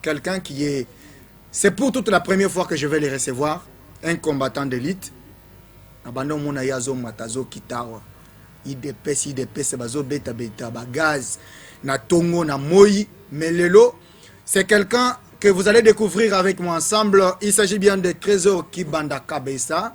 quelqu'un qui est c'est pour toute la première fois que je vais les recevoir un combattant d'élite na banda omona ye azomata azokita awa idps idps bazobetabeta bagaz na tongo na moi mais lelo c'est quelqu'un que vous allez découvrir avec moi ensemble il s'agit bien de trésor kibanda kabesa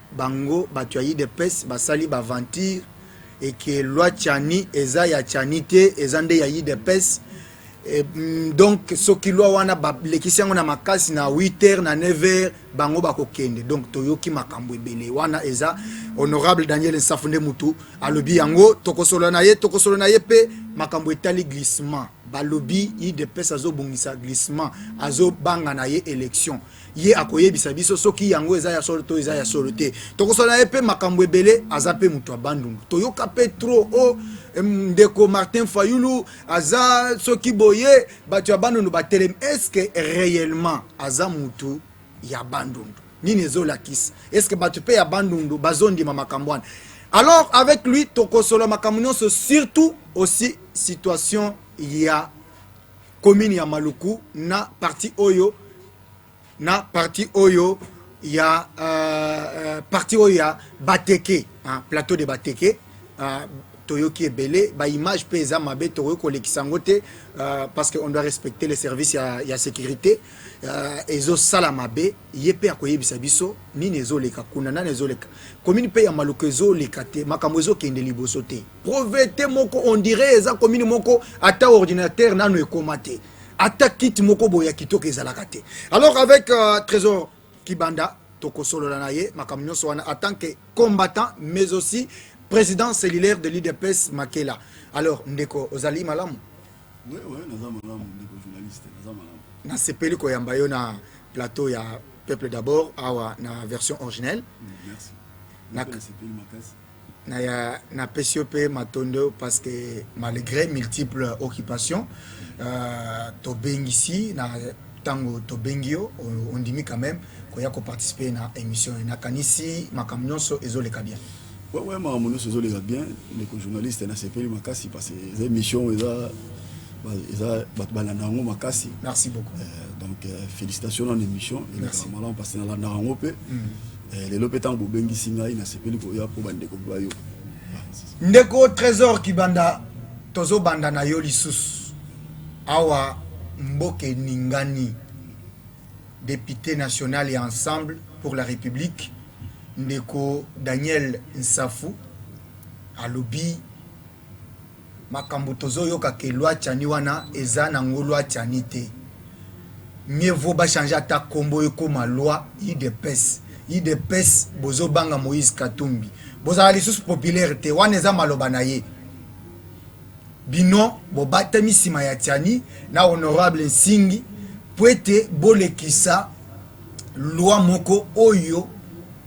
Bango batu ya udps basali ba aventure et que loi Tchani eza ya Tchani te eza nde ya udps et, mm, donc soki loi wana balekisi yango na makasi na 8 heures na 9 heures bango bakokende donc toyoki makambo ebele wana eza honorable daniel nsafu nde mutu alobi yango tokosolola na ye tokosolola na ye mpe makambo etali glissement balobi udps azobongisa glissement azobanga na ye élection ye akoyebisa biso soki yango eza ya solo to eza ya solo te tokosala ye mpe makambo ebele aza mpe moto ya bandundu toyoka mpe tro o ndeko martin fayulu aza soki boye bato ya bandundu batelemi estce réellement aza motu ya bandundu nini ezolakisa estce bato mpe ya bandundu bazondima makambo wana alors avec lui tokosola makambo nyonso surtout aussi situation ya commune ya Maluku na partie oyo na partie oyo ya uh, partie oyo ya Bateke uh, plateau de Bateke uh, toyoki ebele ba image pe eza mabe tokoki kolekisa yango te uh, parce que on doit respecter les services ya, ya sécurité uh, ezosala mabe ye pe akoyebisa biso nini ezoleka kuna nani ezoleka commune pe ya maluku ezoleka te makambo ezokende liboso te Provete moko on dirait eza commune moko ata ordinateur nano ekoma te. Ata kit moko boya kitoko ezalaka te. Alors avec euh, Trésor Kibanda tokosolola na ye makambo nyonso wana en tant que combattant mais aussi président cellulaire de l'UDPS Makela. Alors ndeko ozali malamu? Oui oui, naza malamu ndeko journaliste, naza malamu. Nasepeli koyamba yo na plateau ya peuple d'abord awa na version originelle. Mm, merci. Na... naya napesi yo mpe matondo parce que malgre multiple occupation euh, tobengisi na ntango tobengi yo ondimi quand même koya koparticipe na émission ye nakanisi makambo nyonso ezoleka bien wewe makambo nyonso ezoleka bien ndeko journaliste nasepeli makasi parce que eza émission eza eza bato balanda yango makasi merci beaucoup euh, donc euh, félicitation na émission eleka malamu parce que nalandaka yango mpe mm. Eh, lelo mpe ntango bobengisi ngai nasepeli koya mpo bandeko bayo ndeko trésor kibanda tozobanda na yo lisusu awa mboka eningani député national ya ensemble pour la république ndeko daniel nsafu alobi Makambu tozo yoka que loi tshani wana eza na ngo loi tshani te mieux vaut ba changer ata kombo ekoma loi udps udps bozo banga moise katumbi bozala lisusu populaire te wana eza maloba na ye bino bobatami sima ya tshani na honorable nsingi puete bolekisa loi moko oyo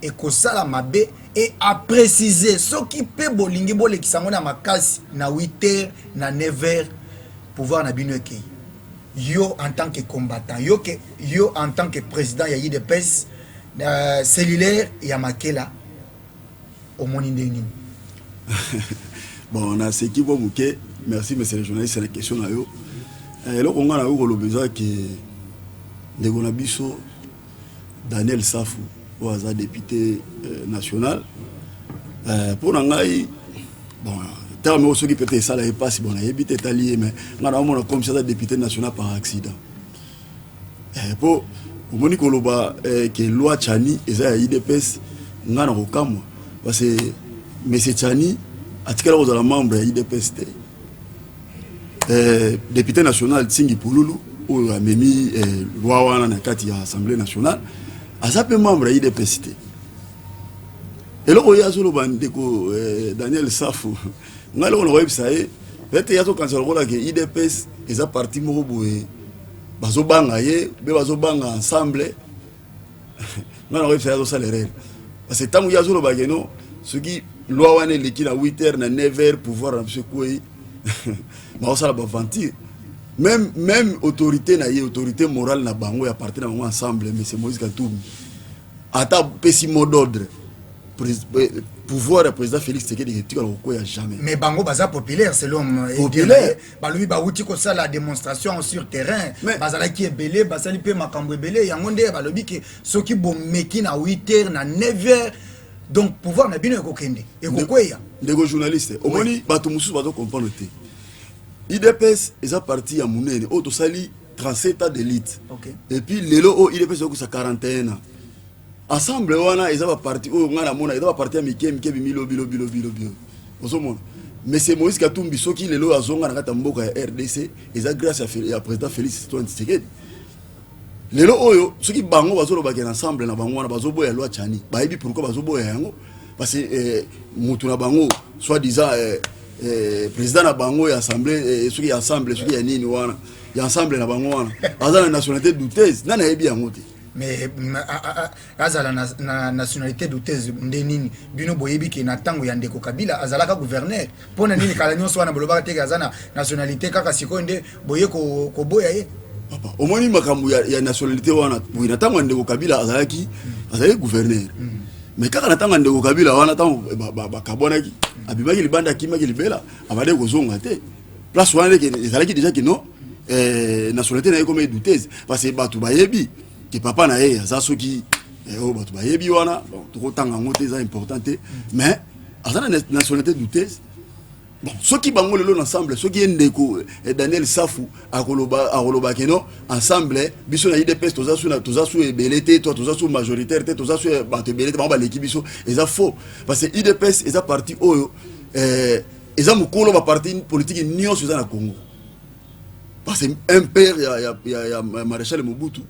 ekosala mabe et a precise soki pe bolingi bolekisa yango na makasi na huit heures na neuf heures pouvoir na bino ekeyi yo en tant que combattant yo que yo en tant que president ya udps cellulaire ya makela omoni ndenge nini? Bon, na seki mwa moke. Merci monsieur le journaliste na question na yo. Eh, eloko ngai nakoki koloba eza ke ndeko na biso Daniel Safu oyo aza député eh, national eh, mpo na ngai bon ntango moko soki peut-être esala ye mpasi bon nayebi te etali ye mais ngai naomona comme si aza député national par accident po omoni koloba que loi tshani eza ya udps nga na kokamwa parce que monsieur tshani atikala kozala membre ya udps te depute national tsingi pululu oyo amemi loi wana na kati ya assemblée nationale aza pe membre ya udps te eloko ye azoloba ndeko daniel safu ngai eloko nakoyebisa ye ete ye azokanisa lokola ke idps eza parti moko boye bazobanga ye be bazobanga ensemble ngai nakoyebisa ye azosala erreur parce que ntango ye azoloba ke no soki loi wana eleki na 8 heures na 9 heures pouvoir na biso ekwei bakosala baventure même même autorité na ye autorité morale na bango ya parti na bango ensemble monsieur moïse katumbi ata pesi mot d'ordre eh, pouvoir ya président félix tshisekedi etikala kokwea jamais mais bango baza populaire selon euh, populaire balobi bawuti kosala démonstration sur terrain bazalaki ebele basali mpe makambo ebele yango nde balobi ke soki bomeki na 8 heures na 9 heures donc pouvoir na bino ekokende ekokweya ndeko journaliste omoni bato mosusu bazo comprendre te idps eza parti ya monene oyo tosali 37 ans d'élite okay. et puis lelo oyo il epesa yokusa 41 ans ensemble wana eza baparti oyo ngai namona eza baparti ya mike mike bimilobilobilobilobilo ozomona monsieur moïse katumbi soki lelo oyo azonga na kati ya mboka ya rdc eza grâce ya président félix antoine tshisekedi lelo oyo soki bango bazolobake na ensemble na bango wana bazoboya loi chani bayebi pourkui bazoboya yango parce que eh, motu na bango soit disant eh, eh, président na bango ya assemblée eh, soki ya assemblée soki ya nini wana ya ensemble na bango wana aza na nationalité douteuse nani ayebi yango te mais azala na, na nationalité douteuse nde nini bino boyebi ke na ntango ya ndeko kabila azalaka gouverneur mpo na nini kala nyonso wana bolobaka teke aza na nationalité kaka sikoyo nde boye koboya ko ye papa omoni makambo ya, ya nationalité wana boye na ntango ya ndeko kabila azalaki mm. azalaki gouverneur mm. mais kaka na ntango ya ndeko kabila wana ntango bakabwanaki abimaki libanda akimaki libela abandaki kozonga te place wana ezalaki deja kino eh, nationalité na ye ekoma edoutese parce que bato bayebi ke papa na ye aza soki eh, oyo bato bayebi wana tokotanga yango te eza important te mais aza na nationalité doutese bon soki bango lelo na ensemble soki ye ndeko eh, daniel safu akoloba keno ensemble biso na idps toza su toza su ebele te to toza su majoritaire te toza su eh, bato ebele te bango baleki biso eza faux parce que idps eza parti oyo eh, eza mokolo ba parti politique nyonso eza na Congo parce que un père ya ya ya, ya maréchal Mobutu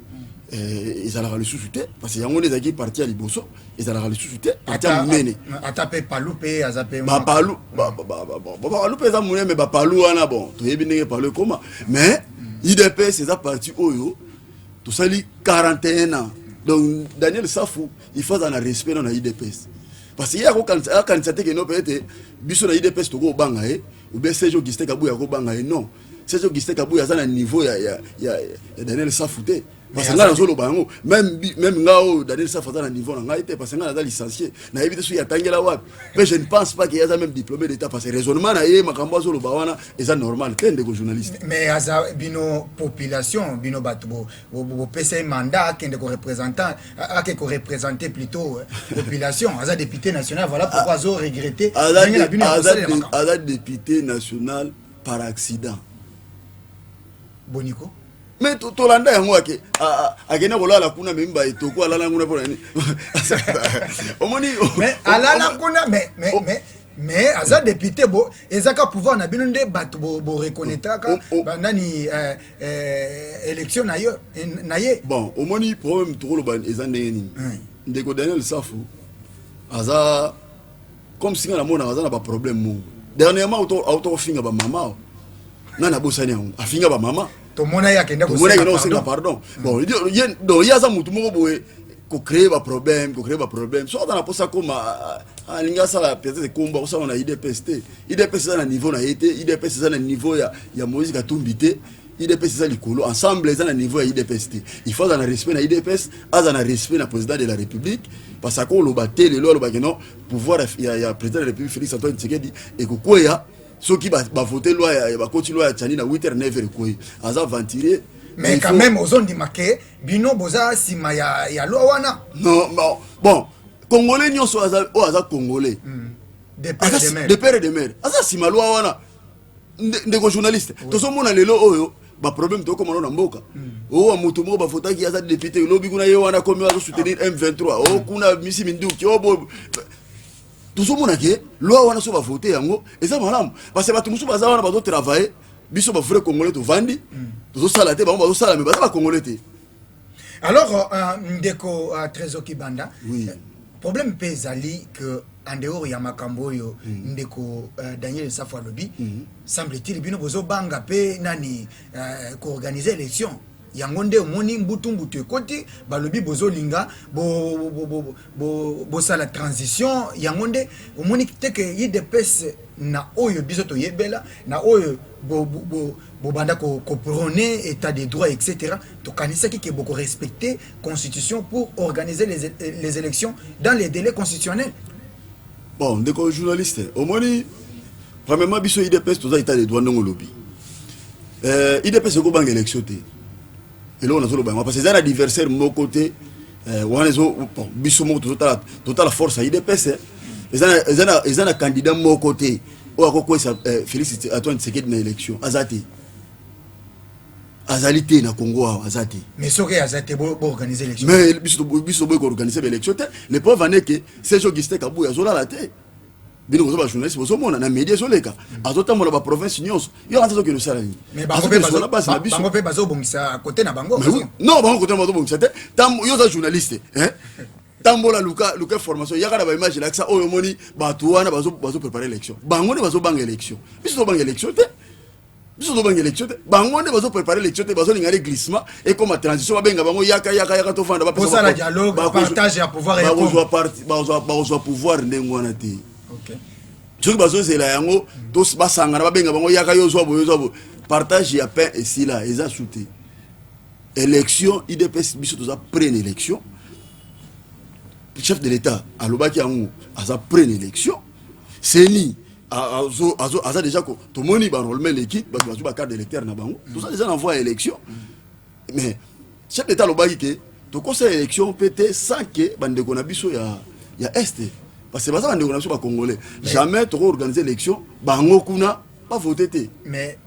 eh, ezalaka lisusu te parce que yango nde ezalaki parti ya liboso ezalaka lisusu te parti ya monene ata mpe palu mpe aza mpe bapalu bapalu mpe eza monene me bapalu wana bon toyebi ndenge palu ekoma mais idps eza parti oyo tosali 41 ans donc daniel safu il faut azala na respect na na idps parce que ye akokanisa te keno peut-être biso na idps tokobanga ye ou bien serge augustin kabuya akobanga ye non serge augustin kabuya aza na niveau ya, ya, ya, ya daniel safu te parce que ngai nazoloba yango meme ngai oyo daniel safu aza na niveau na ngai te parce que ngai naza licencie nayebi te soki atangela wapi mpe je ne pense pas ke aza meme diplômé d'état parce que raisonnement na ye makambo azoloba wana eza normal te ndeko journaliste mais aza bino population bino bato bopesa ye mandat akende ko représentant ake ko représenter plutôt euh, population aza député national voilà pourquoi azo regretter ndenge na bino aza député national par accident boniko me tolanda yango ake akenda kolala kuna memi baetoko alala kuna mpo na nini omoni alala kuna mais aza député bo ezaka pouvoir na bino nde bato boreconnaîtraka banani eh, élection na yo eh, na ye bon omoni problème tokoloba eza ndenge nini hmm. ndeko daniel safu aza comme singa namonaka aza na baproblème moko dernièrement auta kofinga bamama nga nabosani yango afinga bamama tomona ye akende kosenga pardon hmm. bon ye aza motu moko boye ko créer ba problème ko créer ba problème soki aza na posa akoma alingi ah, ah, asala peut-être ekombo akosala na idps te idps eza na niveau na ye te idps eza na niveau ya, ya moïse katumbi te idps eza likolo ensemble eza na niveau ya idps te il faut aza na respect na idps aza na respect na président de la république parce que akoloba te lelo alobaki non pouvoir ya, ya président de la république félix antoine tshisekedi ekokweya soki bavote ba loi bakoti loi ya tshani na 8 h 9 h ekweyi aza aventurier mais quand même ozondima ke bino boza sima ya, ya loi wana non, bon, bon congolais nyonso oyo aza congolais mm. de père de mère, de père de mère. aza sima loi wana ndeko journaliste oui. tozomona lelo oyo baproblème tokomana na mboka hmm. owa oh, moto moko bavotaki aza député lobi kuna ye wana komi azo soutenir ah. m23 o oh, kuna misi minduki o oh, tozomona ke loi wana so bavote yango eza malamu parce bato mosusu baza wana bazotravaille biso ba vrai congolais tovandi tozosala te bango bazosala me baza ba congolais te alors euh, euh, ndeko euh, trésor kibanda oui. problème mpe ezali que en dehors ya makambo oyo mm. ndeko uh, daniel safu alobi mm. semble-t-il bino bozobanga mpe nani uh, koorganize élection Yango nde omoni mbutu mbutu ekoti balobi bozolinga bosala transition yango nde omoni teke idps na oyo biso toyebela na oyo bobanda koprone etat de droit etc tokanisaki ke bokorespecte constitution pour organiser les, les élections dans les délais constitutionnels Bon ndeko journaliste omoni premièrement biso idps toza état de droit ndenge olobi euh, idps ekobanga élection te eloko nazoloba yango parce eza na adversaire moko te euh, wana ezo biso moko tozotala totala force ya idps eh. eza na candidat moko te oyo akokwesa euh, félix antoine tshisekedi na élection aza te azali te na congo awa aza te mais soki aza te boorganize élection mais biso boyi koorganize baélection te le preuve ane ke serge augustin kabuya azolala te bino boza bajournaliste bozomona na média ezoleka azotambola baprovince nyonso yo aza azokende osala nini azokende base na biso mpe bazobongisa kote na bango non bango kote na bazobongisa te yo oza journaliste tambola luka luka information yaka na ba image lakisa oyo omoni bato wana bazo prepare élection bango nde bazobanga élection biso tobanga élection te biso tozobanga élection te bango nde bazo prépare élection te bazolinga nde glissement ekoma transition babenga bango yaka yaka yaka tofanda bapesala dialogue partage ya pouvoir bakozwa pouvoir ndenge wana te soki bazozela yango basangana babenga bango yaka yo ozwa boye ozwa boye partage ya pain esila eza su te élection idps biso toza près na élection chef de l'état alobaki yango aza près na élection seni aza deja ko tomoni barolema eleki bato bazwi bacarte d'électeur na bango mm. toza deja na voi ya élection mm. mais chef d'état alobaki ke tokosala élection mpe te sans ke bandeko na biso ya, ya este parce que baza bandeko na biso bacongolais jamais toko organise élection bango kuna bavote te mais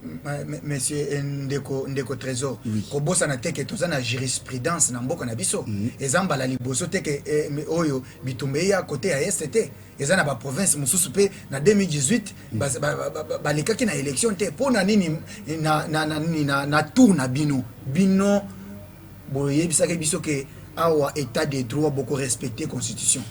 monsieur eh, ndeko ndeko trésor kobosana te ke toza na jurisprudence na mboka na biso mm. eza mbala liboso te ke eh, oyo bitumba eya kote ya este te eza na baprovince mosusu mpe na 2018 balekaki na élection te mpo na nini na, na, na, na, na tour na bino bino boyebisaki biso ke awa état de droit bokorespecte constitution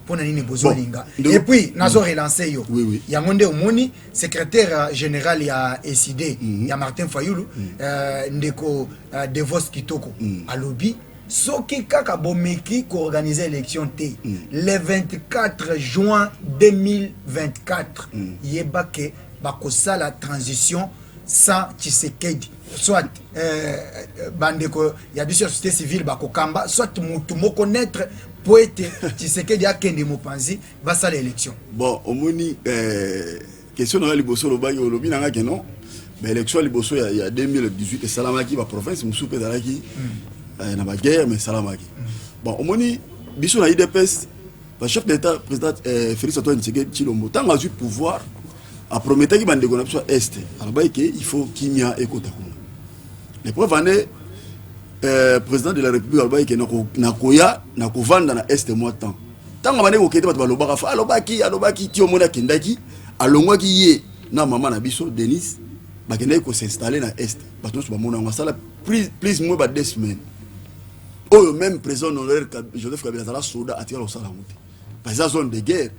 mpo na nini bozolinga bon, et puis nazo relance yo oui, oui. yango nde omoni secrétaire euh, général ya eside mm -hmm. ya martin fayulu mm -hmm. euh, ndeko euh, devos kitoko mm -hmm. alobi Soki kaka bomeki ko organiser election te le 24 juin 2024 yeba que bakosala transition sans Tshisekedi soit bandeko ya biso ya societe civile bakokamba soit mutu moko neutre mpo ete Tshisekedi akende mopanzi basala election. Bon omoni eh, Question na yo liboso olobaki olobi na nga ke non ba election liboso ya, ya 2018 esalamaki ba province mosusu mpe ezalaki mm. eh, na ba guerre mais esalamaki mm. bon omoni biso na idps ba chef d'état président eh, Félix Antoine Tshisekedi Tshilombo ntango azwi pouvoir aprometaki bandeko na biso ya est alobaki ke il faut kimia ekota kuna les preuves en est euh, président de la république alobaki ke nakoya nakovanda na est mwa temps ntango abandaki kokende bato balobaka fa alobaki alobaki ti omoni akendaki alongwaki ye na mama na biso denise bakendaki kosinstalle na est bato nyonso bamona yango asala plus moins ba deux semaines oyo même président honoraire joseph kabila azala soda atikala kosala yango te parce eza zone de guerre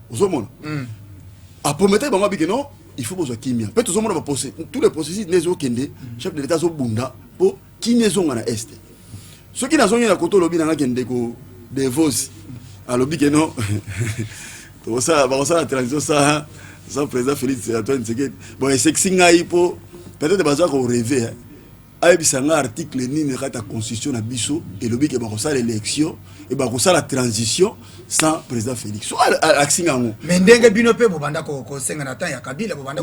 ozomona hmm. aprometaki bango abike non il faut bozwa kimia mpe tozomona tous les processus nde ezokende hmm. chef de l'état azobunda mpo kimia ezonga na este soki nazongi na koto olobi na nga kende ko devosi alobi ke non tokosala bakosala transition sa sa président félix antoine tshisekedi bon esekisi ngai mpo peut-être baza koreve hein. ayebisa ngai article nini kati ya constitution na biso elobi ke bakosala élection e bakosala transition sans président félix so alakisi ngai yango mais ndenge bino mpe bobanda kosenga na temps ya kabila bobanda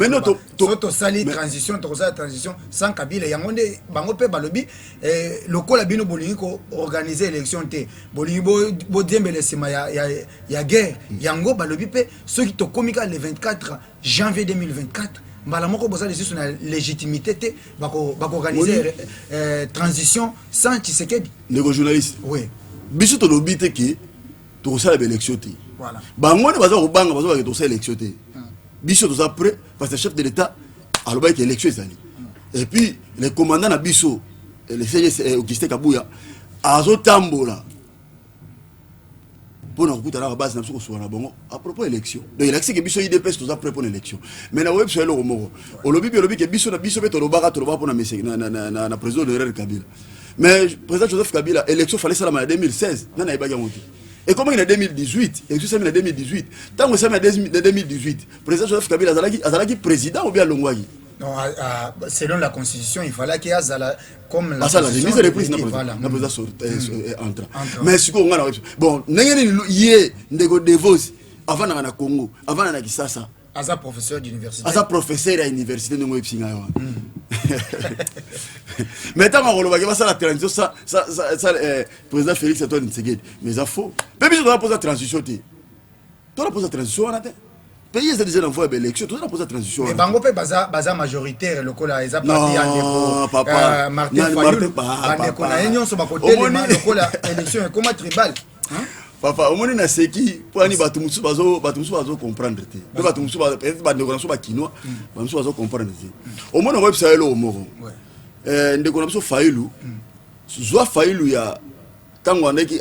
so tosali transition tokosala transition sans kabila yango nde bango mpe balobi eh, lokola bino bolingi koorganize élection te bolingi bodiembela bo nsima ya, ya, ya guerre mm. yango balobi mpe soki tokomi kaka le 24 janvier 2024 mbala moko boza lisusu na légitimité te bakoorganize bako eh, transition sans tshisekedi ndeko journaliste oui. biso tolobi te ke tokosala baélection te bango nde baza kobanga bazo bake tokosala élection te hmm. biso toza prêt parce que chef de l'état alobaki ke élection ezali hmm. et puis le commandant na biso eh, le cgs eh, augustin kabuya azotambola mpo na kokutanaka base na biso kosuka na bango à propos élection donc elakisi ke biso idps toza prêt mpo na élection mais na oyebi biso eloko moko olobi mpe olobi ke biso na biso mpe tolobaka tolobaka mpo na président de rr kabila mais président joseph kabila élection fale esalama na 2016 nani ayebaki yango te ekomaki na 2018 élection esalami na 2018 ntango esalami na 2018 président joseph kabila azalaki, azalaki président obi alongwaki Non, à, à, selon la constitution, il fallait qu'il y ait la, comme la asala remise de reprise na président sur entre mais sikoyo ngai na bon ndenge nini ye ndeko devos avandaka na congo avanda na kisasa aza professeur d'université aza professeur ya université ndenge oyebisi ngai wana hmm. mais ntango akolobaki basala transition eh, président félix antoine tsegedi mais eza faux mpe biso toza mpoza transition te toza mpoza transition wana te pays eza deja na voie ya baélection toza na mpoza transition wana bango mpe baza majoritaire lokola eza parti ya ndekomartin euh, fayulbandeko na ye nyonso bakotelema lokola élection ekoma tribale papa omoni na seki poyani bato mosusu bazo bato mosusu bazo comprendre te mpe bato mosusu peut-être bandeko na biso bakinois mm. bato mosusu bazo comprendre te omoni okoyebisa yo eloko moko eh, ndeko na biso failu mm. zwa failu ya ntango abandaki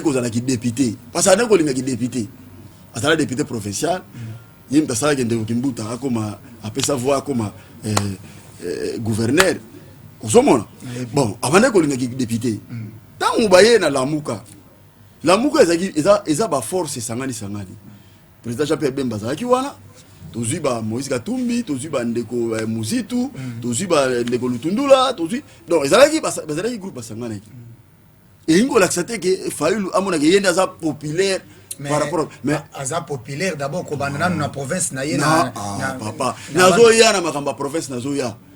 kozala kidepute parce abandaki kolinga kidepute azala depute provincial mm. ye moto asalaki ndeko kimbuta akoma apesa voi akoma eh, eh, gouverneur ozomona bon abandaki kolinga kidepute ntango baye na lamuka lamuka ezalaki eza, eza baforce esangani sangani président jean pierre bemba azalaki wana tozwi ba moïse katumbi tozwi bandeko eh, muzitu mm. tozwi bandeko eh, lutundula tozwi donc ezalaki bazalaki groupe basanganaki mm. elingi kolakisa te ke fayulu amonaka ye nde aza populaire par rapport mais aza populaire d'abord kobanda nanu na province na ye na ah, papa nazoya na makambo ya province nazoya na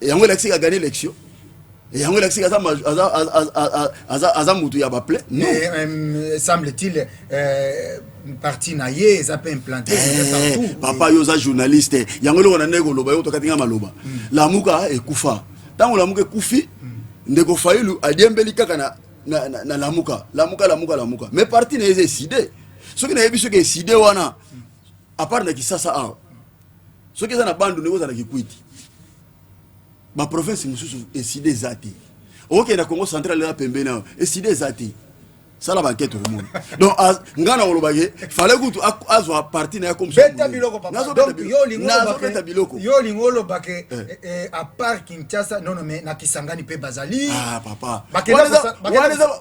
yango elakisi ka gagner élection yango elakisi aza aza aza aza mutu ya baple non eh, euh, semble t-il euh, parti na ye eza mpe implante eh, papa yo oza journaliste yango eloko na ndenge koloba yo tokati nga maloba hmm. lamuka ekufa ntango lamuka ekufi hmm. ndeko failu adiembeli kaka na, na, na, na lamuka lamuka lamuka lamuka mais parti na ye eza eside soki nayebi soki eside wana hmm. apart na kisasa awa soki eza na bandundu ekozala kikwiti ba province mosusu eside eza te okenda congo central eza pembeni awa eside eza te sala bankete omoni donc ngai nakoloba ye fale kutu azwa parti na ye komsbeta bilokobeta biloko yo olingi oloba ke eh. Eh, eh, apart kinshasa nono me na kisangani mpe bazali ah, papa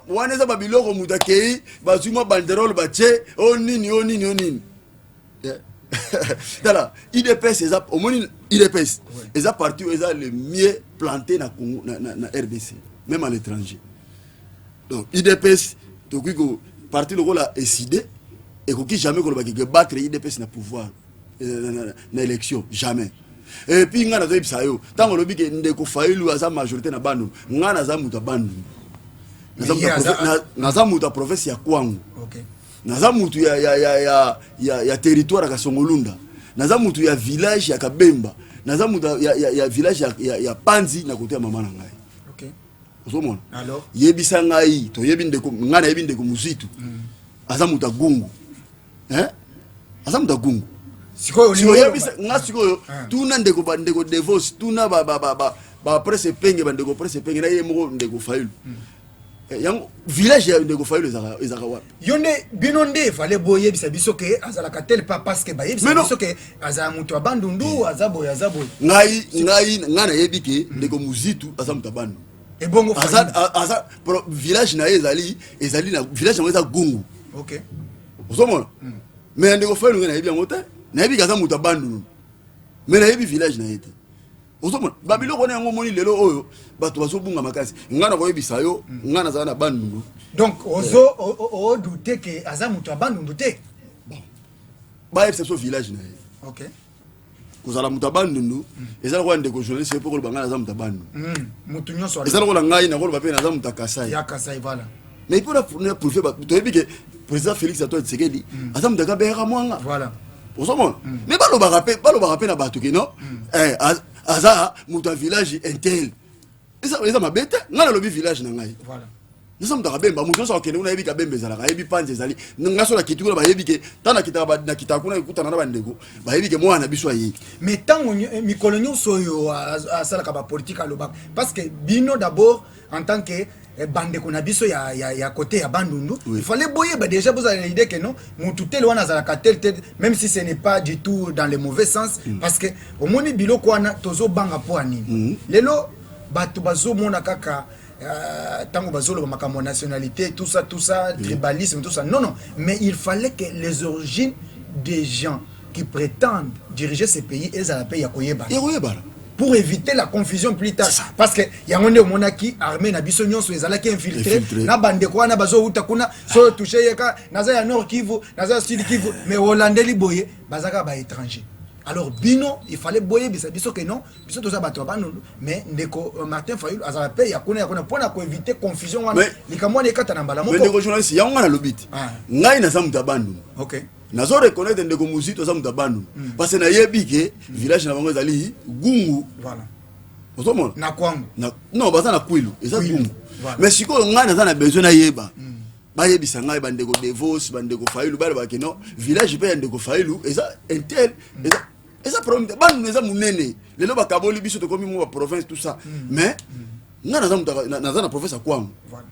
wana eza babiloko moto akei bazwi mwa banderole batie o oh, nini o oh, nini o oh, nini tala idps eza omoni idps eza parti oyo eza le mieux planté na congo na, na, na rdc même à l'étranger donc idps tokoki ko parti lokola eside ekoki jamais koloba keke battre idps na pouvoir euh, na, na, na élection jamais et puis ngai nazoyebisa yo ntango olobi ke ndeko failu aza majorité na banu ngai naza moto ya bandundu naza moto ya province ya kwango okay. Naza mutu ya, ya, ya, ya, ya, ya territoire ya Kasongolunda, naza mutu ya village ya Kabemba, naza mutu ya, ya, ya village ya, ya, ya Panzi na kote ya mama na ngai okay. Ozomona, yebisa ngai, toyebi ndeko ngai, nayebi ndeko Muzitu mm. aza mutu ya Gungu eh? aza mutu ya Gungu sikoyoyebisa nga sikoyo ah. tuna ndeko bandeko devos tuna baprese penge bandeko prese penge na ye moko ndeko fayulu hmm. eh, yango village ya ndeko fayulu ezaka ezaka wapi yo nde bino nde efale boyebisa biso ke azalaka tel pas parce que bayebisa Mais non. biso ke azala moto ya bandundu aza boye aza boye ngai ngai ngai nayebi ke ndeko muzitu aza moto ya bandu ebongo aza Fayulu. a- aza pro- village na ye ezali ezali na village yango eza gungu ok ozomona me ya ndeko fayulu ngai nayebi yango te nayebi ke aza moto ya bandulu me nayebi village na ye te ozomona babiloko wana yango omoni lelo oyo bato bazobunga makasi ngai nakoyebisa yo ngai nazala na bandundu donc ozoodute ke aza moto ya bandundu te bayebisa biso village na ye okay. kozala moto ya bandundu mm. eza lokola ndeko journaliste mpe koloba ngai naza moto ya bandundu mm. eza lokola ngai nakoloba mpe naza moto ya kasai mais il faut la fournir prouver ba to yebi que président Félix Antoine Tshisekedi mm. aza mutaka bera mwanga voilà ozomona mm. mais balobaka mpe balobaka mpe na bato ke non mm. eh, aza moto ya village intel eza mabe te ngai nalobi village na ngai naza moto akabemba moto nyonso akokende kuna ayebi kabemba ezalaka ayebi panzi ezali ngai so nakiti kuna bayebi ke ntango nakitaka nakitaka kuna ekutana na bandeko bayebi ke mwana na biso ayei mais ntango eh, mikolo nyonso oyo asalaka bapolitike alobaka parce que bino d'abord en tant que eh, bandeko na biso ya, ya, ya kote ya bandundu oui. il fallait boyeba déjà bozala na idée que non mutu tel wana azalaka tel tel même si ce n'est pas du tout dans le mauvais sens mm. parce que omoni biloko wana tozobanga mpo ya nini mm. lelo bato bazomona kaka euh, ntango euh, bazoloba makambo ya nationalité tout ça tout ça mm. tribalisme tout ça non non mais il fallait que les origines des gens qui pretendent diriger ce pays ezala pe ya koyebana ya koyebana pour éviter la confusion plus tard parce que yango nde omonaki armée na biso nyonso ezalaki infiltré na bandeko wana bazowuta kuna soyo touche yeka naza ya nord kivu naza ya sud kivu mais olandeli boye bazaka ba étranger alors bino il fallait boyebisa biso que non biso toza bato ya banunu mais ndeko euh, martin fayulu azala mpe ya kuna ya kuna mpo na koevite confusion wana likambo wana ekata na mbala moko ndeko journaliste yango ngai nalobi te ah. ngai naza moto ya bandunu nazo reconnaitre ndeko muzito aza moto ya bandundu mm. parce na yebi ke mm. village na bango ezali gungu voilà. ozomona na kwangu na, non baza na kwilu eza gungu voilà. mais sikoyo ngai naza na besoin nayeba mm. bayebisa ngai bandeko devos bandeko failu balobaki non village mpe ya ndeko failu eza intel mm. eza eza problème te bandundu eza monene lelo bakaboli biso tokomi mwa baprovince tout ça mm. mais mm. ngai naza na province ya kwangu voilà.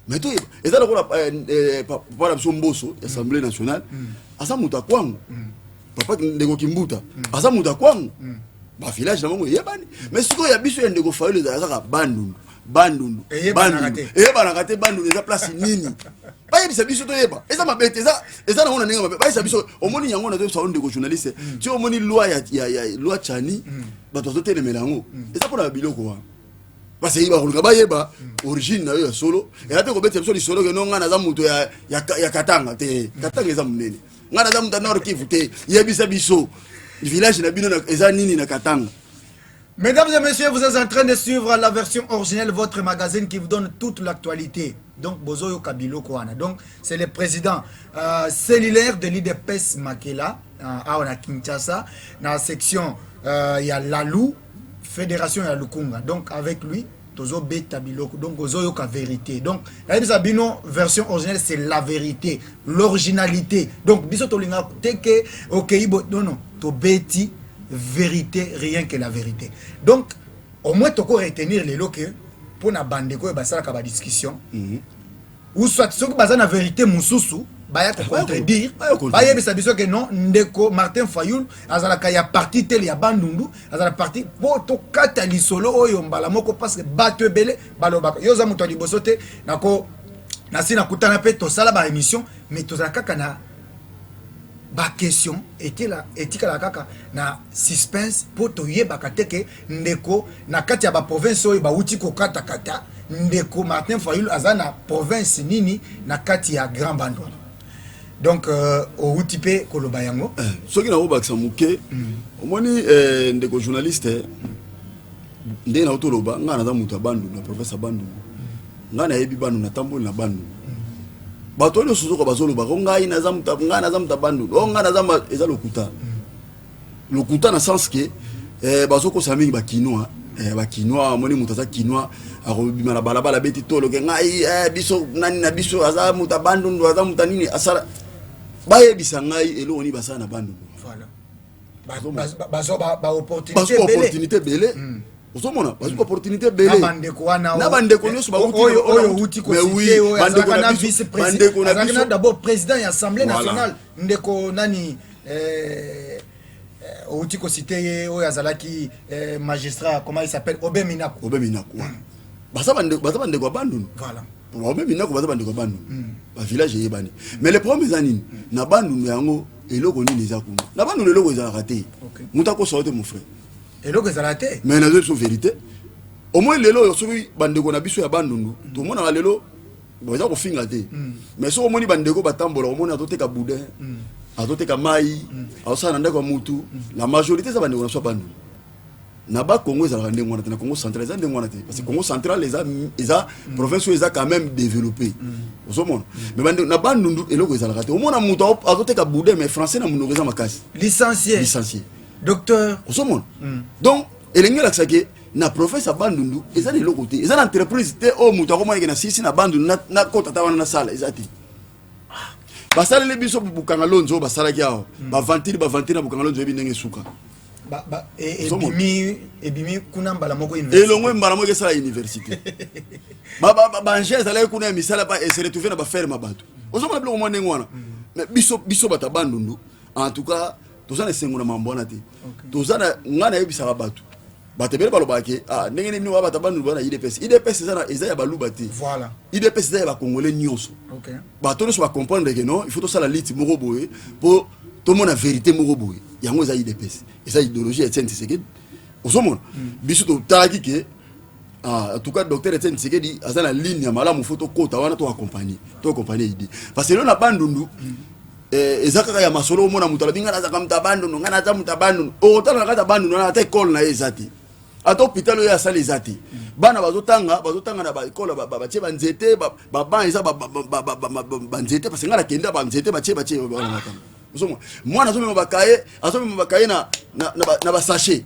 mais toyeba eza lokola eh, eh, papa na biso mboso ya assemblée nationale mm. aza moto ya kwango mm. papa ndeko kimbuta mm. aza moto ya kwango bavillage na bango eyebani mais sikoyo ya biso ya ndeko fayolo ezala kaka bandundu bandundu eyebanaka te bandundu eza place nini bayebisa biso toyeba eza mabe te eza nango na ndenge mabe bayebisa biso omoni yango nazoyebisa o ndeko journaliste ti omoni loi ya loi chani bato bazotelemela yango eza mpona babiloko wana baseki bakolinga bayeba origine na yo ya solo ela mpe kobetela biso lisolo keno ngai naza moto ya, ya, ya katanga te katanga eza monene ngai naza moto ya nord kivu te yebisa biso village na bino eza nini na katanga Mesdames et messieurs, vous êtes en train de suivre la version originelle, votre magazine qui vous donne toute l'actualité. Donc, Bozoyo Kabilo Kouana. Donc, c'est le président euh, cellulaire de l'IDPS Makela, euh, à Kinshasa, dans la section euh, il y a Lalou, federation ya lukunga donc avec lui tozobeta biloko donc ozoyoka verité donc nayebisa bino version originale c'est la vérité l'originalité donc biso tolingaka te ke okei bo non non tobeti vérité rien que la vérité donc au moins toko retenir lelo ke mpo na bandeko oyo basalaka badiscussion mm -hmm. ou soit soki baza na verite mosusu baya ko contredire bayebisa biso ke non ndeko martin fayul azalaka ya parti tele ya bandundu azala parti mpo tokata lisolo oyo mbala moko parce que bato ebele balobaka yo oza moto ya liboso te nako nasi nakutana mpe tosala ba émission mais tozala kaka na baquestion etikala kaka na suspense mpo toyebaka te ke Ndeko na kati ya ba province oyo bawuti kokata kata ndeko Martin Fayulu aza na province nini na kati ya Grand Bandundu donc euh, owuti mpe koloba yango eh, soki nakobakisa moke mm. omoni eh, ndeko journaliste eh, ndenge na otoloba ngai naza moto ya bandundu na province ya bandundu mm. ngai nayebi bandundu natamboli na bandundu mm. bato oyo nyonso zoka bazoloba o oh, ngai naza moto ngai naza moto ya bandundu o oh, ngai naza eza lokuta lokuta na sens que eh, bazokosa mingi bakinois eh, bakinois amoni moto aza kinois akobima na balabala abeti toloke ngai eh, biso nani na biso aza moto ya bandundu aza moto nini asala bayebisa ngai eloko nini basala na bandundu baopportunité ebele hmm. ozomona bazwi hmm. opportunité ebele na bandeko nyonso bautibandeko na biso d'abord président ya assemblée nationale ndeko nani eh, eh, outi kosite ye oyo azalaki eh, magistrat comment il s'appelle obe minaku obe minaku mm. baza bandeko ya bandundu voilà baobe minaku baza bandeko ya bandundu mm. bavillage eyebani mm. mais le problème eza nini mm. na bandundu yango eloko nini eza kuna na bandundu eloko ezalaka te okay. moto akosoa te mon frère eloko ezalaka te mais nazo biso vérité omoi lelo oyo soki bandeko na biso ya bandundu tomonaka lelo boza kofinga te mm. mais soki omoni bandeko batambola omoni azoteka boudin mm. azoteka mai mm. azosala na ndako ya mutu la majorité eza bandeko na so bandu na ba congo ezalaka ndenge wana te na congo central eza ndenge wana te parce que congo central eza, eza province oyo eza quand même développé ozomona mais bande, na bandundu eloko ezalaka te omona moto azoteka boudin mais français na monoko eza makasi licencié licencié docteur ozomona donc elenge elakisaki na province ya Bandundu eza na eloko te, eza na entreprise te oyo moto akomona ke nasilisi na Bandundu na, na kota ata wana nasala eza te. basaleli biso bukanga lonzo oyo basalaki awa hmm. bavantire bavantire na bukanga lonzo oyebi ndenge esuka e, ebimi kuna mbala moko elongwe mbala moko esala université banje ezalaki kuna ya misala se retrouve na baferme ya bato ozomona biloko mwa ndenge wana hmm. biso bato ya bandundu en tout cas toza na esengo na mambo wana te toza na ngai nayebisaka bato bato ebele balobaka ke ah, ndenge nini wa bato baluba na idps idps eza, eza ya baluba te voilà. idps eza ya bacongolais nyonso okay. bato nyonso bacomprendre ke non il faut tosala liti moko boye mpo tomona verité moko boye yango eza idps eza idéologie ya etienne tisekedi ozomona mm. biso totalaki ke Ah, en tout cas docteur Etienne Tshisekedi aza na ligne ya malamu fo tokota wana to accompagner to accompagner idée parce que lelo na bandundu eh, eza kaka ya masolo omona moto alobi ngai nazaka moto ya bandundu ngai naza moto ya bandundu okotala na kati ya bandundu wana ata ekole na ye eza te ata hôpital oyo asala eza te bana bazotanga bazotanga na baekole batie banzete baban eza banzete parce ngai nakenda banzete batie batie ozomwa mwana azomema bakaye azomema bakaye na basachet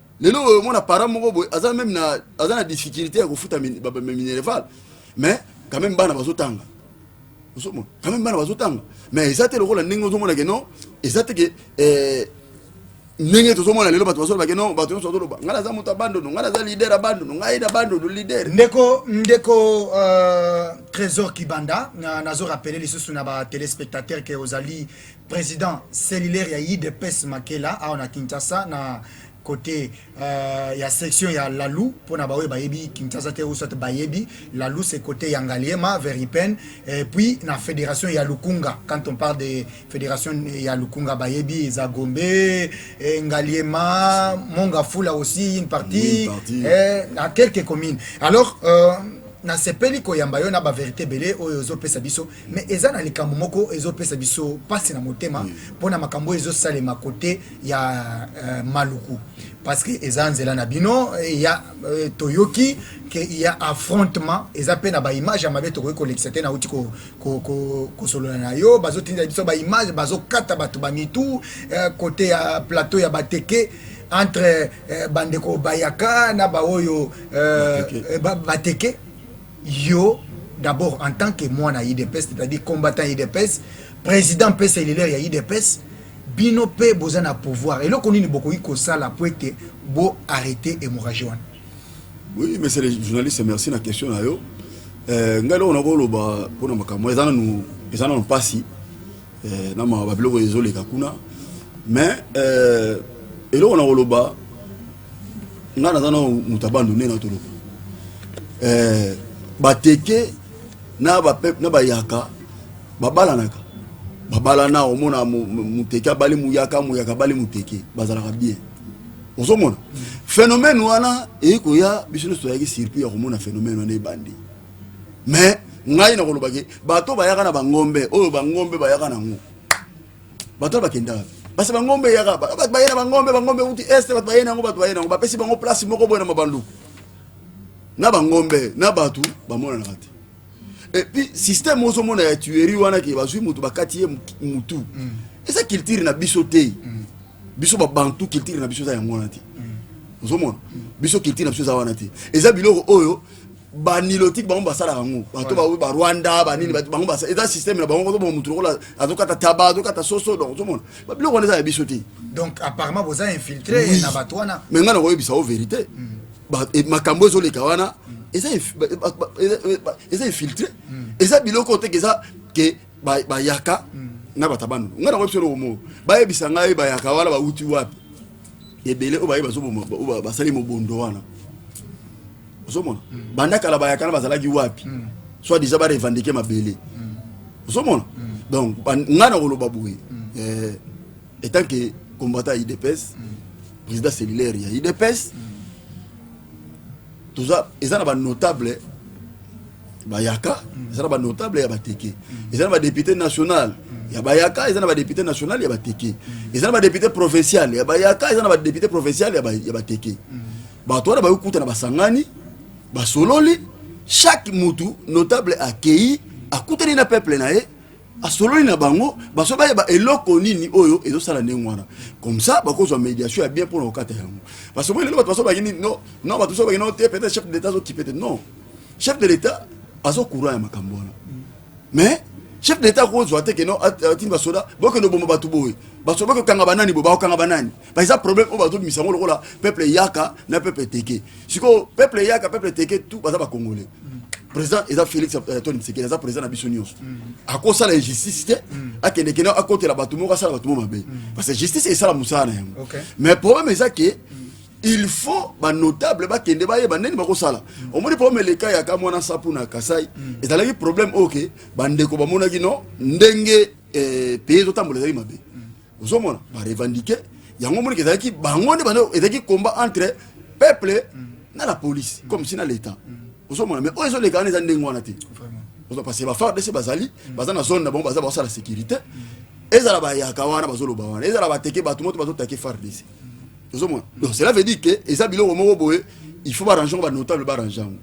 lelo oyo mona para moko boye aza meme na aza na difficulté ya kofuta minerval mais quand même bana bazotanga ozomona quand même bana bazotanga mais eza te lokola ndenge ozomona ke non eza te ke eh, ndenge tozomona lelo bato bazoloba ke non bato nyonso bazoloba ngai naza moto ya bandono ngai naza lider ya bandono ngai na bandono lider ndeko ndeko euh, trésor kibanda nazo rappele lisusu na batelespectateur ke ozali President cellulaire ya udps Makela awa na Kinshasa na kote uh, ya section ya Lalu mpo na baoyo bayebi Kinshasa te usat bayebi Lalu se kote ya Ngaliema Veripen et puis na federation ya Lukunga quand on parle de federation ya Lukunga bayebi eza Gombe et eh, Ngaliema Mongafula aussi une partie, une partie. Eh, à quelques communes alors euh, nasepeli koyamba yo na baverité ebele oyo ozopesa biso mais eza na likambo moko ezopesa biso pasi na motema mpo na makambo oyo ezosalema kote ya uh, maluku parce que eza nzela na bino ya uh, toyoki ke ya affrontement eza mpe na baimage ya mabe tokoki kolekisa te nauti kosolola na yo bazotinda biso baimage bazokata bato bamitu uh, eh, kote ya plateau ya bateke entre uh, bandeko bayaka na baoyo uh, bateke Yo d'abord en tant que mwana udps c'est-à-dire combattant udps president pesa elileur ya udps bino pe boza na pouvoir eloko nini bokoki kosala po ete bo arrete hémorragie wana oui monsieur le journaliste merci na question na yo euh, ngai eloko nakoloba mpona makambo eza nanu eza nanu mpasi euh, na mawa babiloko ezoleka kuna mais euh, eloko nakoloba nga naza na moto abandu nde natoloka eh, bateke na bayaka babalanaka babalana omona muteke abali muyaka muyaka abali muteke bazalaka bien ozomona phénomène wana eye koya biso nyonso toyaki surpris ya komona phénomène wana ebandi mais ngai nakolobaki bato bayaka na bangombe oyo bangombe bayaka nango bato wana bakenda wapi basi bangombe eyaka bato baye na bangombe bangombe euti este bato baye na yango bato baye na yango bapesi bango place moko boye na mabanduku na bangombe na bato bamonanaka te epuis systeme ozomona ya tuerie wana ke bazwi moto bakati ye motu mm. eza culture na biso te mm. biso babantu culture na biso eza yango wana te mm. ozomona biso culture na biso eza wana te eza biloko oyo ba nilotique bango basalaka yango bato baoyo ba rwanda banini mm. bato bango basala eza système na bango kozomona motu lokola azokata taba azokata soso donc ozomona biloko wana eza ya biso te donc apparemment boza infiltré na bato wana mais ngai nakoyebisa o vérité mm. makambo ezoleka wana mm. eza infiltré eza biloko oteke eza ke bayaka na bato ya bandundu ngai nakoyebisa eloko moko bayebisa ngai bayaka wana bauti wapi ebele oyo baye basali mobondo wana ozomona mm. banda kala bayaka na bazalaki wapi mm. soit disant barevendike mabele mm. ozomona donc ngai nakoloba boye eh, etant que combattant ya idps président cellulaire ya idps toza eza na ba notable bayaka eza na ba notable ya bateke eza na ba député national ya bayaka eza na ba député national ya bateke eza na ba député provincial ya bayaka eza na ba député provincial ya bateke bato wana bayoki kuta na basangani basololi chaque mutu notable akei akutani na peuple na ye asololi na bango baso bayeba eloko nini oyo ezosala ndenge wana comme ça bakozwa médiation ya bien mpona kokata yango parce que lelo bato baso bakini no no bato baso bakini te peut-être chef de l'état azokipe te non chef de l'état azo courant ya makambo wana mais chef de l'état akozwa te keno atindi basoda bokende oboma bato boye basoda bakokanga banani boye bakokanga banani ba eza problème oyo bazobimisa yango lokola peuple eyaka na peuple teke sikoyo peuple eyaka peuple teke tout baza bacongolais président eza félix euh, tony tshisekedi aza président na biso nyonso mm. akosala injustice te mm. akendekende akotela bato moko asala bato moko mabe mm. parce que justice esala mosala na yango mais problème eza ke il faut banotable bakende bayeba ndeni bakosala omoni problème eleka ya ka mwana sapu na kasai ezalaki problème oyo ke bandeko bamonaki no ndenge eh, pays ezotambola ezalaki mabe ozomona ba revendiquer yango monike ezalaki bango nde bana ezalaki combat entre peuple mm. na la police comme si na l'état mm. ozomona mais oyo ezoleka wana eza ndenge wana te parce que bafardc bazali mm. baza na zone na bango baza basala sécurité ezala bayaka wana bazoloba wana ezala bateke bato moto bazotake fardc ozomona donc cela veut dire que eza biloko moko boye il faut barange yango banotable barange yango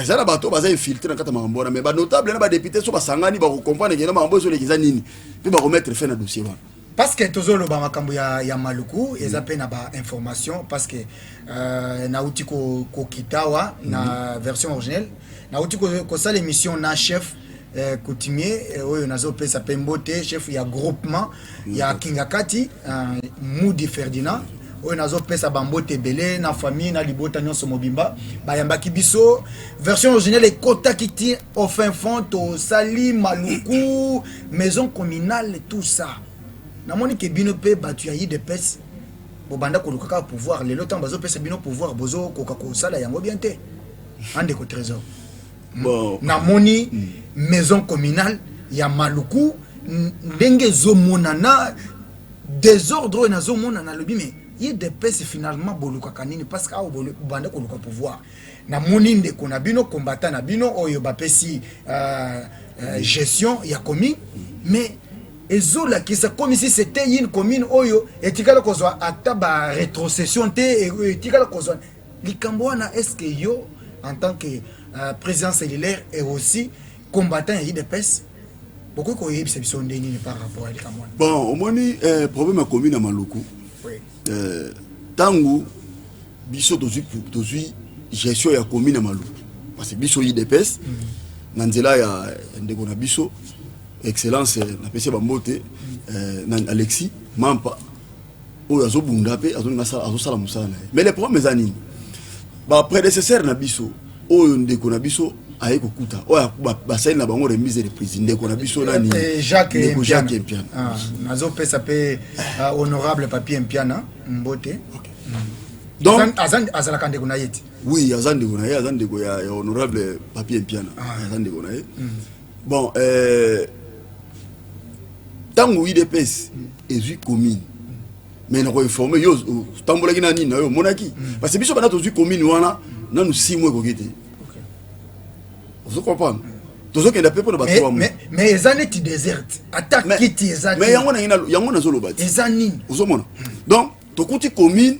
eza na bato baza infiltre na kati ya makambo wana mais banotable na badepute so basangani bakokomprendre kena makambo ezoleki eza nini mpe bakomettre fin na dossier wana parce que tozoloba makambo ya, ya maluku eza mpe mm. na bainformation parce que euh, nauti kokita ko wa mm. na mm-hmm. version originelle nauti kosala ko émission na chef eh, coutumier eh, oyo nazopesa mpe mbote chef ya groupement ya kingakati uh, mudi ferdinand oyo nazopesa bambote ebele na famille na libota nyonso mobimba bayambaki biso version originale ekotaki ti au fin fond tosali maluku maison communale tout ça namoni ke bino mpe bato ya idps bobanda koluka kaka pouvoir lelo ntango bazopesa bino pouvoir bozokoka kosala yango bien te andeko trésor bon. na moni mm. maison communale ya maluku ndenge ezomonana desordre oyo nazomonana alobi me ye depese finalement bolukaka nini parce que awa bobanda koluka pouvoir namoni ndeko na bino combattant na bino oyo bapesi euh, euh, gestion ya commune mais ezolakisa comme si c'était une commune oyo etikala kozwa ata ba retrocession te etikala kozwa Likambo wana est-ce que yo en tant que uh, président cellulaire et aussi combattant ya UDPS bokoki koyebisa biso ndenge nini par rapport ya likambo wana? Bon, omoni eh, problème akomi na Maluku oui. eh, tango biso tozwi tozwi gestion ya komi na Maluku parce que biso UDPS mm -hmm. na nzela ya ndeko na biso excellence eh, napesi bambote mm -hmm. eh, na Alexis Mampa oyo azo bunda pe azo linga sala azo sala musala na ye mais le problème eza nini ba prédécesseurs na biso oyo ndeko na biso aye kokuta oyo basali na bango remise de prise ndeko na biso nani eh, ndeko jacques mpiana ah, nazopesa mpe ah, honorable papier mpiana mbote mm. donc azalaka ndeko na ye te oui aza ndeko na ye aza ndeko ya honorable papier mpiana ah. aza ndeko na ye mm. Bon, euh, tango UDPS ezui commune mais nako informer yo tambolaki na nini na yo monaki mm. parce que biso bana tozui commune wana nanu six mois ekoki te ozo comprendre tozokenda mpe mpona bato mais eza neti deserte ata kiti eza mais yango na yango nazoloba te eza nini ozomona donc tokuti commune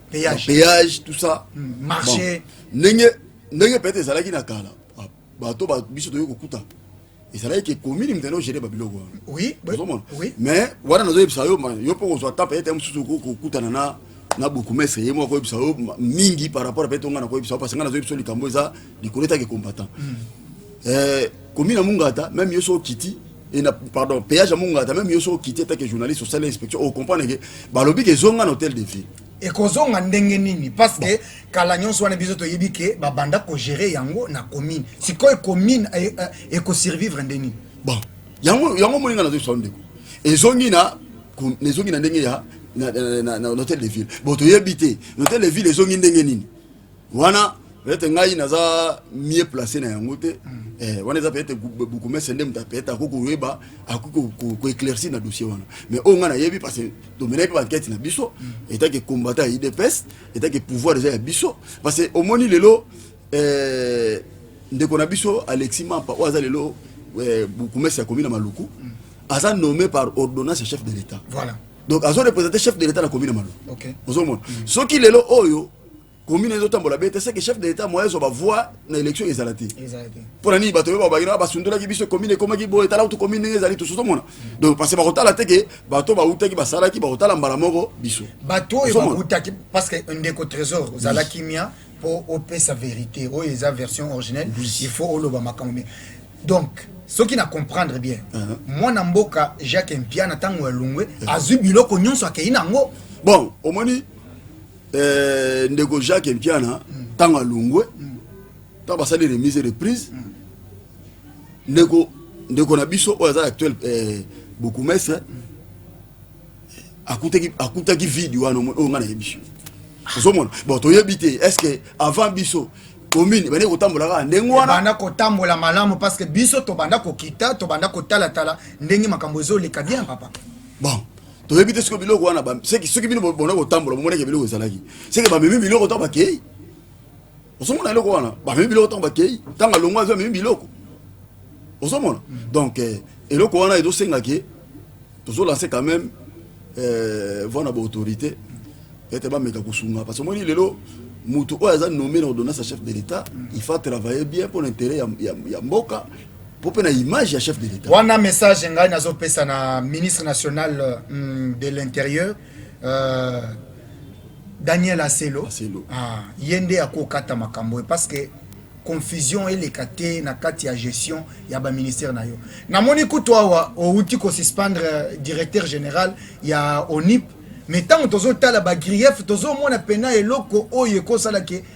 péage, péage tout ça mm, marché bon. ndenge ndenge peut-être ezalaki na kala ah, bato ba biso toyei kokuta ezalaki ke komini moto yango gere babiloko wana oui, ozomona oui. mais wana nazoyebisa yo yo mpo kozwa ta peut-être mosusu kokutana na na bourgmestre ye moko akoyebisa yo mingi par rapport peut-être onga nakoyebisa yo parce nga nazoyebisa yo likambo eza likolo etaki combattant mm. eh, Komi na Mungata, meme yo so okiti, et na, pardon, péage ya Mungata, meme yo so okiti, en tant que journaliste, osali inspection, o comprendre que balobi ke zonga na hôtel de ville. ekozonga ndenge nini parce que kala nyonso wana biso toyebi ke babanda kogere yango na commune sikoyo commune eh, eh, ekosurvivre nde nini bon yango yango omoni ngai nazoyebisa ndeko ezongi na ezongi na ndenge ya na hotel de ville bon toyebi te na hotel de ville ezongi ndenge nini wana peut-être ngai naza mieux placé na yango te eh, wana eza peut-être bukumese nde moto peut-être akoki koyeba akoki koéclaircir na dossier wana mais oyo ngai nayebi parce que tomenaki mpe bankete na biso etaki combattant ya idps etaki pouvoir eza ya biso parce que omoni lelo eh, ndeko na biso alexis mampa oyo aza lelo eh, bukumese ya komi na maluku aza nommé par ordonnance ya chef de l'état voilà. donc azo représente chef de l'état na komi na maluku okay. ozomona mm. soki lelo oyo commune ezo tambola bete c'est que chef de l'état moyen zo ba voix na élection ezala te pour la nini bato ba ba na basundula ki biso commune koma ki boye tala tu commune ndenge ezali tout mona donc parce que bakotala te que bato ba uta ki basala ki bakotala mbala moko biso bato oyo ba uta ki parce que ndeko trésor zala kimia pour opesa vérité oyo eza version originelle il faut oloba makambo mais donc soki na comprendre bien uh-huh. mwana mboka jacques mpiana ntango ya lungwe uh-huh. azwi biloko nyonso akei na yango bon omoni Eh, ndeko Jacques Mpiana ntango mm. alongwe mm. ntango basali remise reprise mm. ndeko ndeko na biso oyo aza actuel eh, bokumestre akutaki akutaki vide wana oyo ngai nayebi ozomona bon toyebi te est ce que avant biso commune ebandi kotambola kaka ndenge wana ebanda kotambola malamu parce que biso tobanda kokita tobanda kotalatala ndenge makambo ezoleka bien papa bon toyebi te soki biloko wana seki soki bino bona kotambola bomoneke biloko ezalaki seki bamemi biloko ntango bakei ozomona eloko wana bamemi biloko ntango bakei ntango alongo azwi amemi biloko ozomona donc eh, eloko wana ezosengaki tozolanse quand même eh, voi na baautorité ete bameka kosunga parce omoni lelo moto oyo aza nommé na ordonnance ya chef de l'état il faut travailler bien mpo na intérêt ya, ya, ya mboka po pe na image ya chef de l'etat wana message ngai nazopesa na ministre national mm, de l'intérieur euh, daniel aselo, aselo. Ah, ye nde akokata makambo ye parce que confusion eleka te na kati ya gestion ya baministère na yo namoni kutu awa outi kosuspendre euh, directeur général ya onip mais ntango tozotala bagrief tozomona mpena eloko oyo ekosalaki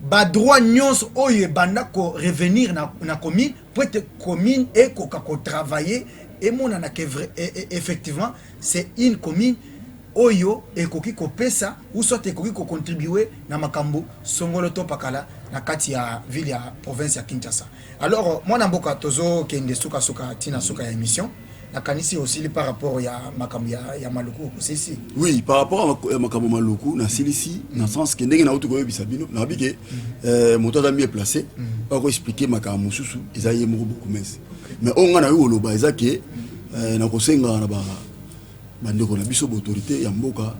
Ba droits nionso oyo ebanda ko revenir na commune mpo ete commune ekoka ko travailler emonana que effectivement c'est une commune oyo ekoki kopesa ou soit ekoki ko contribuer na makambo songolo to pakala na kati ya ville ya province ya Kinshasa. Alors mwana mboka tozo kende suka suka tina suka ya emission nakanisi osili par rapport ya makambo ya, ya maluku osilisi oui par rapport ya makambo maluku nasilisi mm -hmm. na sens ke ndenge nauti koyebisa bino nayebi ke mm -hmm. euh, moto aza mieux placé mm -hmm. bakoexplike makambo mosusu eza ye moko bokumese okay. mais oyo ngai nayoki koloba eza ke mm -hmm. euh, nakosenga na ba Bandeko na biso ba autorités ya mboka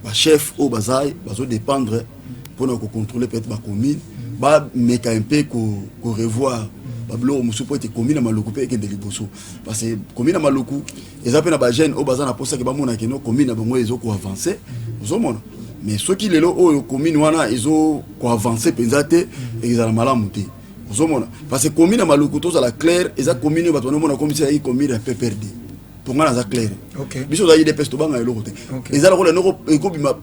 ba chefs oyo baza bazo dépendre mpo na ko contrôler peut-être ba communes ba meka un peu ko, ko revoir ba biloko mosusu mpo ete commune ya Maluku mpe ekende liboso parce que commune ya Maluku eza mpe na ba jeunes oyo baza na posa ke bamona keno commune na bango ezo ko avancer ozomona mais soki lelo oyo commune wana ezo ko avancer mpenza te ezala malamu te ozomona parce que commune ya Maluku tozala claire eza commune oyo bato banomona komisa ezalaki commune ya PPRD to ngai naza claire biso oza idps tobanga eloko te eza lokola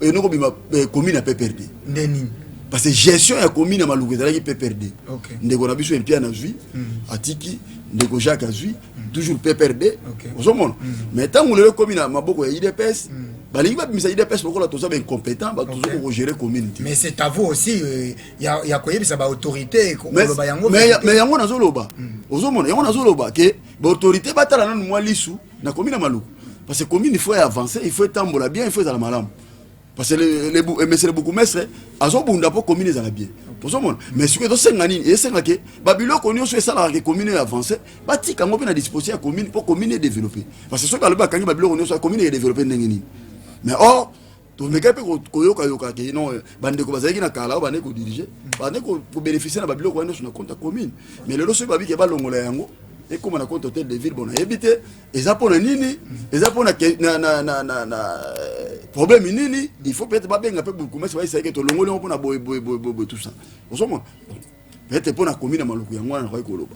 enokobima eh, commune ya pprd nde nini parce que gestion ya commune ya maluku ezalaki pprd ndeko na biso empia nazwi hmm. atiki ndeko jacques azwi hmm. toujours pprd ozomona hmm. mais ntango lelo ekomi na maboko ya idps balingi babimisa idps lokola toza baincompétent bato tozoki kogere commune te mais c'est à vous aussi euh, ya koyebisa baautorité koloba yango mais yango nazoloba ozomona yango nazoloba ke ba autorité batala nanu mwa lisu na komi na maluku parce que commune il faut avancer il faut etambola bien il faut ezala malamu parce que le, le, le, monsieur le bourgmestre azobunda mpo commune ezala bien ozomona mais sikoyo ezosenga nini esenga ke babiloko nyonso esalaka ke commune avance batika yango mpe na disposition ya commune mpo commune edeveloppe parce que soki alobi akangi babiloko nyonso commune edeveloppe ndenge nini mais or tomeka mpe koyokayoka ke non bandeko bazalaki na kala oyo bande kodirige bande kobénéficie na babiloko wana nyonso na compte ya commune mais lelo soki babike balongola yango ekóma na compte hotel de ville bona yebi te eza mpo na nini eza mpo na problème nini il faut peut-être babenga mpe bourgmestre bayisaki tolongoli yango mpo na boye boye boye boye tout ça ozomona peut-être mpo na commune ya maluku yango wana nakoki koloba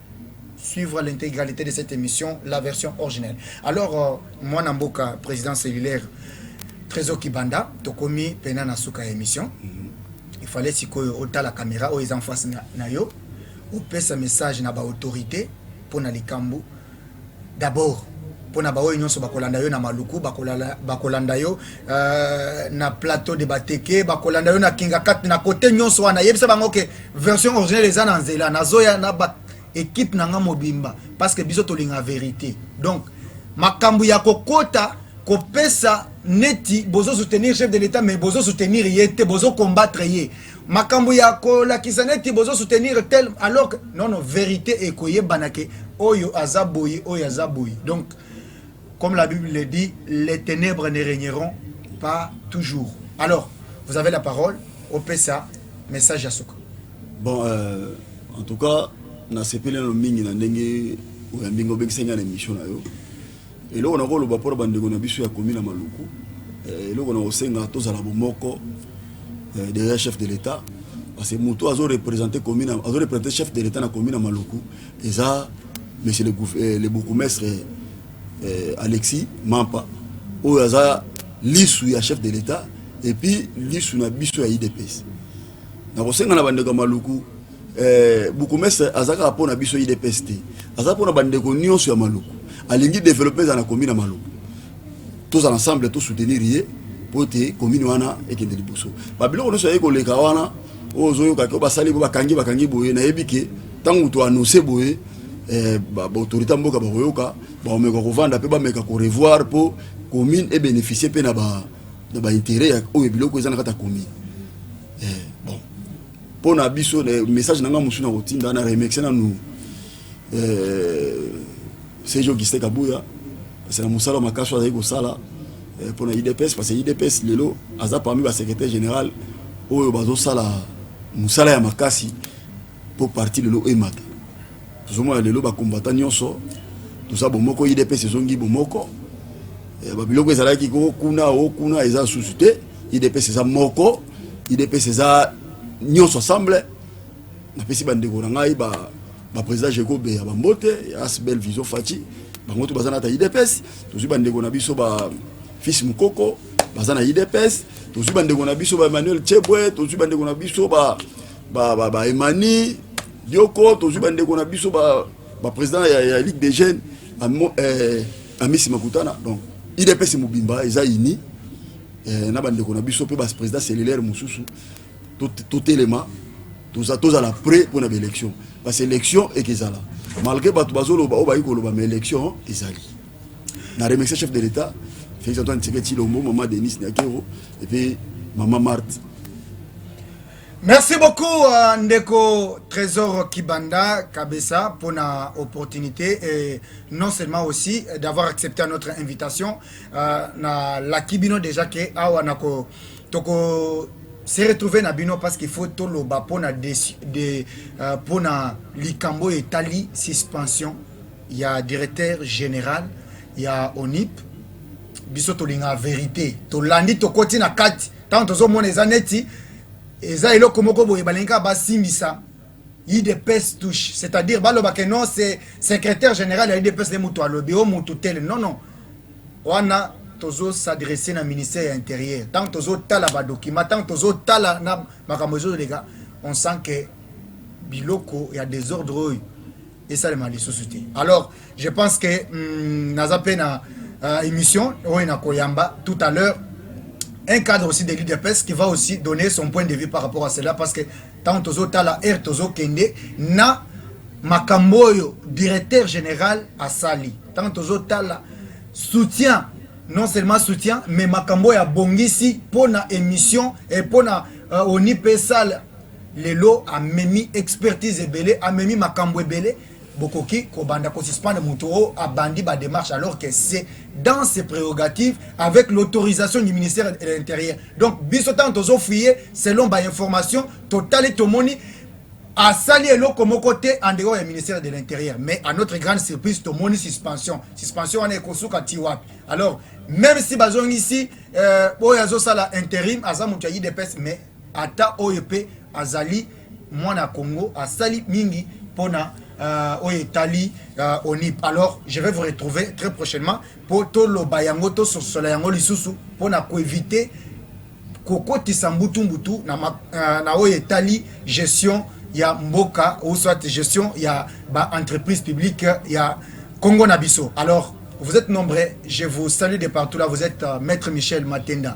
suivre l'integralite de cette émission, la version originelle. Alors, euh, moi, Namboka, président cellulaire, Trésor Kibanda, Tokomi, Pena Nasuka émission. Mm -hmm. Il fallait si autant la caméra, ou ils en face na, na yo, ou pèse un message na ba autorité pour na likambu. D'abord pona ba oyo nionso bakolanda yo na maluku bakolanda yo euh, na plateau de bateke bakolanda yo na kingakati na kote nionso wana yebisa bango ke version originale eza na nzela nazoya na ba ekipe na nga mobimba parce que biso tolinga verite donc makambo ya kokota kopesa neti bozo soutenir chef de l'etat mais bozo soutenir ye te bozo combattre ye makambo ya kolakisa neti bozo soutenir tel alors non non verite ekoyebana ke oyo aza boye oyo aza boye donc comme la bible le dit les ténèbres ne régneront pas toujours alors vous avez la parole opesa message ya suka bon euh, en tout cas nasepeli nano mingi na ndenge oyambi nga obengisi nga na émission na yo Eloko na koloba mpo na bandeko na biso ya komi na Maluku, eh, eloko na kosenga tozala bomoko eh, derrière chef de l'État parce que moto azo représenter commune azo représenter chef de l'État na commune na Maluku eza monsieur le, eh, le bourgmestre eh, Alexis Mampa oyo aza lisu ya chef de l'État et puis lisu na biso ya IDPS. nakosenga na bandeko ya maluku eh, bukumestre aza kaka mpo na biso idps te aza mpo na bandeko nyonso ya maluku alingi developpe eza na komi na maluku tozala ensemble tosoutenir ye mpo ete komini wana ekende liboso babiloko nyonso ayei koleka wana oyo ozoyoka ke basali bo bakangi bakangi boye nayebi ke ntango toannonce boye eh, baautorité ya mboka bakoyoka bakomeka kovanda mpe bameka korevoir mpo commune ebénéficie mpe na ba na ba intérêt ya oyo biloko eza na kati ya commune eh, bon mpo na biso message na ngai mosusu na kotinda na remercie nanu eh, Serge Augustin Kabuya parce que na mosala makasi azali kosala eh, mpo na idps parce que idps lelo aza parmi ba secrétaire général oyo bazosala mosala ya makasi mpo parti lelo emata Tozomona lelo ba combattant nyonso toza bomoko, idps ezongi bomoko, eh, babiloko ezalaki ko kuna o kuna eza susu te, idps eza moko, idps eza nyonso ensemble. Napesi bandeko na ngai ba ba président Jego Beya Bambote, As Belle Vision Fati, bango to baza na ta idps, tozwi bandeko na biso ba fils Mukoko baza na idps, tozwi bandeko na biso ba Emmanuel Chebwe, tozwi bandeko na biso ba ba ba, ba Emani yoko tozwi bandeko na biso bapresident ba ya, ya ligue des jeunes eh, amisi makutana donc idps mobimba eza ini eh, na bandeko na biso mpe bapresident cellulaire mosusu totelema to tozala to to prêt mpo na baélection parce élection eke ezala malgré bato bazoloba oyo bayi koloba ma élection ezali na remercie chef de l'état félix antoine tshisekedi tshilombo mama denis niakero epuis mama marte Merci beaucoup uh, ndeko Trésor Kibanda Kabessa pour na opportunité et non seulement aussi euh, d'avoir accepté notre invitation uh, na la kibino déjà que awa na ko toko se retrouver na bino parce qu'il faut tout le bas pour na de, de uh, pour na likambo etali suspension il y a directeur général il y a ONIP biso tolinga verité tolandi tokoti na kati ntango tozomona eza neti eza eloko moko boye balingi kaka basimbisa udps touche c'est-à-dire baloba ke non se secrétaire général ya udps nde moto alobi o moto tele non non wana tozo s'adresse na ministère ya intérieur ntango tozotala badocument ntango tozotala na makambo ezoleka on sent ke biloko ya desordre oyo esalema lisusu te alors je pense que mm, naza mpe na euh, émission oyo nakoyamba tout à l'heure un cadre aussi de l'udps qui va aussi donner son point de vue par rapport à cela parce que ntango tozotala aire tozokende na makambo oyo directeur général asali ntango tozotala soutien non seulement soutien mais makambo oyo abongisi mpo na émission mpo na euh, onipesal lelo amemi expertise ebele amemi makambo ebele bokoki kobanda kosuspendre moto oyo oh, abandi bademarche alors que c'est dans ses prérogatives avec l'autorisation du ministère de l'intérieur donc biso ntango tozofuye selon bainformation totali tomoni asali eloko moko te en dehors ya ministère de l'intérieur mais à notre grande surprise tomoni suspension suspension wana ekosuka ti wapi alors même si bazongisi euh, oyo azosala intérim aza moto ya idps mais Ata oyo pe azali mwana ya Congo asali mingi pona Uh, oyo etali uh, onip alors je vais vous retrouver très prochainement mpo toloba yango tososola yango lisusu mpo na koevite kokotisa mbutu mbutu na, ma, uh, na oyo etali gestion ya mboka ou soit gestion ya ba entreprise publique ya Congo na biso alors vous êtes nombreux je vous salue de partout là vous êtes uh, maître Michel Matenda